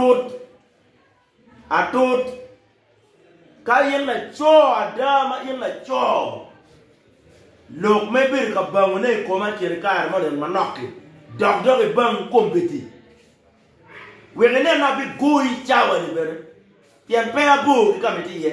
Matut, atut, ka in laco ada ma in laco, lok ma ibedo ka bangone i koma kine kare moni en manok-ki, dok dok ibang kombeddi. Wek inen ni abigoyi cawa-ni bene, pien peya bor ki ka ma itye iye.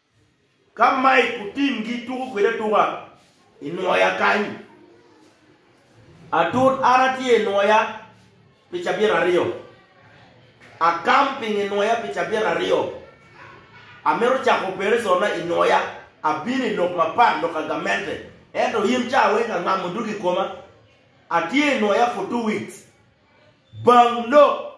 Ka Mike otimgi tuko kwede atuka i nwoya kany, atut an atye i nwoya pi cabit aryo. A camping i nwoya pi cabit aryo. Amito cako operationna i nwoya. Abino i lok mapat lok ka gamente, ento in ca weng angamo odug i koma. Atye i nwoya for two weeks. Bang lok.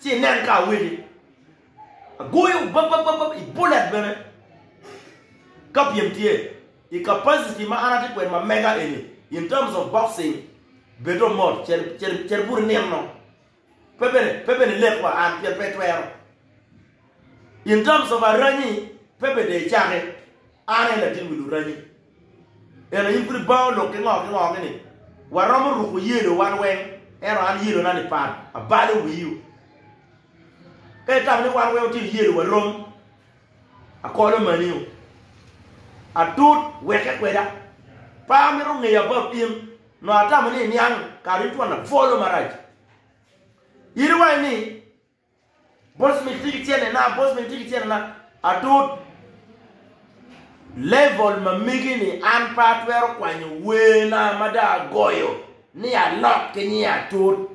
Ci inen ka awegi agoyo babababab i bullet bene ka pyem tye i capacity ma an atye kwede ma mega eni in terms of boxing bedo mot ceri bute nino pe bene pe bene lek wa an pien pe twero in terms of aranyi pe bene dong icake an aye latin wi luranyi. Ento in pud ibango lok ki ngo ki ngo ni waromo ruko yelo wan weng ento an yelo na ni pat abalo wiu ka itamo ni wan weng otino yelo wa rom akolo maniu atut weke kweda pa amito ngeya bab in no atamo ni iniang kare in twon labolo marac yelo wa ni Bosmith tye ki cene na, Bosmith tye ki cene na, atut. Level ma mege ni an pe atwero kwanyo wer na ma dong agoyo ni alok ki nying atut.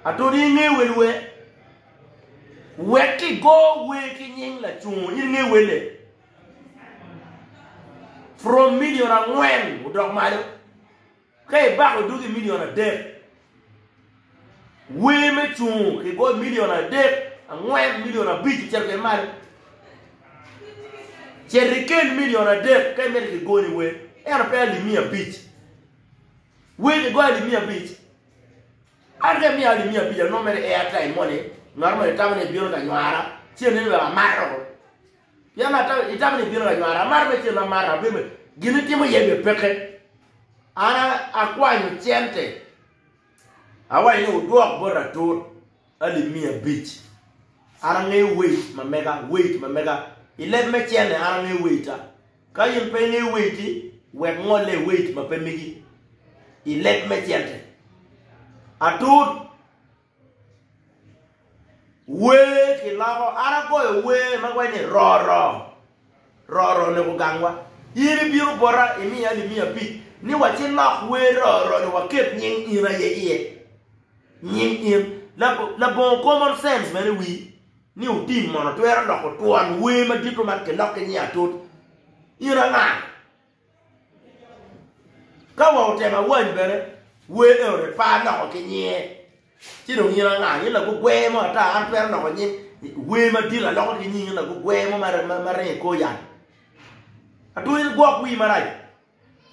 Atut in inge wel wer? Wek ki go wer ki nying lacungo in inge wele? From million angwen odok malo. Ka ibako dugi milion adek, wer me cungo ki bot milion adek, angwen, milion abic ocito kwede malo. Cit ikel milion adek ka imito kigoni wer, ento pe alip miya abic. Wer kigoyo alip miya abic. An ka imiya alip miya abic, anongo mere i airtime moni, ngat moni tamo ni bino ka nywara, ci aneni wek amato. Pien atamo, itamo ni ibino ra nywara. Amaro me cen ma maro, abedo me gin itimo iye bye peke. An akwanyo cente, awayo ni wudwok bot atur alip miya abic. An angeyo wait ma mega, wait ma mega. I leb me cene an angeyo waita. Ka in pe ingeyo waiti, wek ngolle i wait ma pe migi i leb me cente. Atur! Wer kiloko, an agoyo wer ma waco ni Roro, Roro ni ogangwa. In ibino bota imiya alip miya abic ni wacilok wer Roro ni waket nying in aye iye. Nying in. Labongo common sense meno i wii ni otim mono twero loko twon wer madito man kilok ki nying atut? In anga? Ka wa otemo awany bene wer eno ni par loko ki nyinge ci dong in anga in lagugwer mo ata an twero loko nying wer madit aloko ki nying in lagugwer mo ma ringo i kor yat atwero in gwok wii marac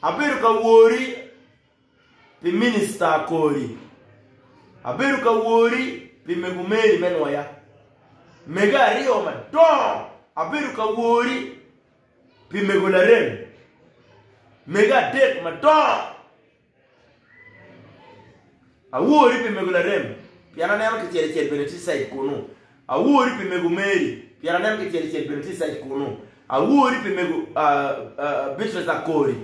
abedo ka wori pi minista kori abedo ka wori pi mego meri me nwoya mege aryo madongo abedo ka wori Pi mego larem mege adek madongo. Awori pi mego larem pien aneno kicel icel bene tye cite kunu. Awori pi mego Mary pien aneno kicel icel bene tye cite kunu. Awori pi mego Beatrice Akori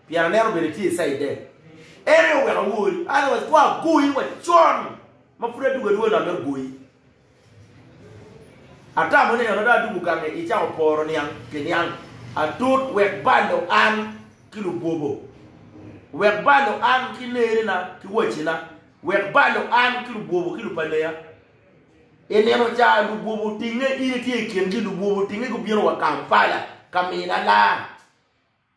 pien aneno bene tye cite. En aye oweko awori otherwise kong agoyi wa con ma pud adwogo adwoga nongo me goyi. Atamo ni eno dong adubo gange icako poro niang ki niang atut wek balo an ki lubwobo, wek balo an ki nerina ki wacina, wek balo an ki lubwobo ki lupaneya. I nino ca lubwobo otinge, in itye i kingi, lubwobo otinge gubino wa Kampala ka mina laa.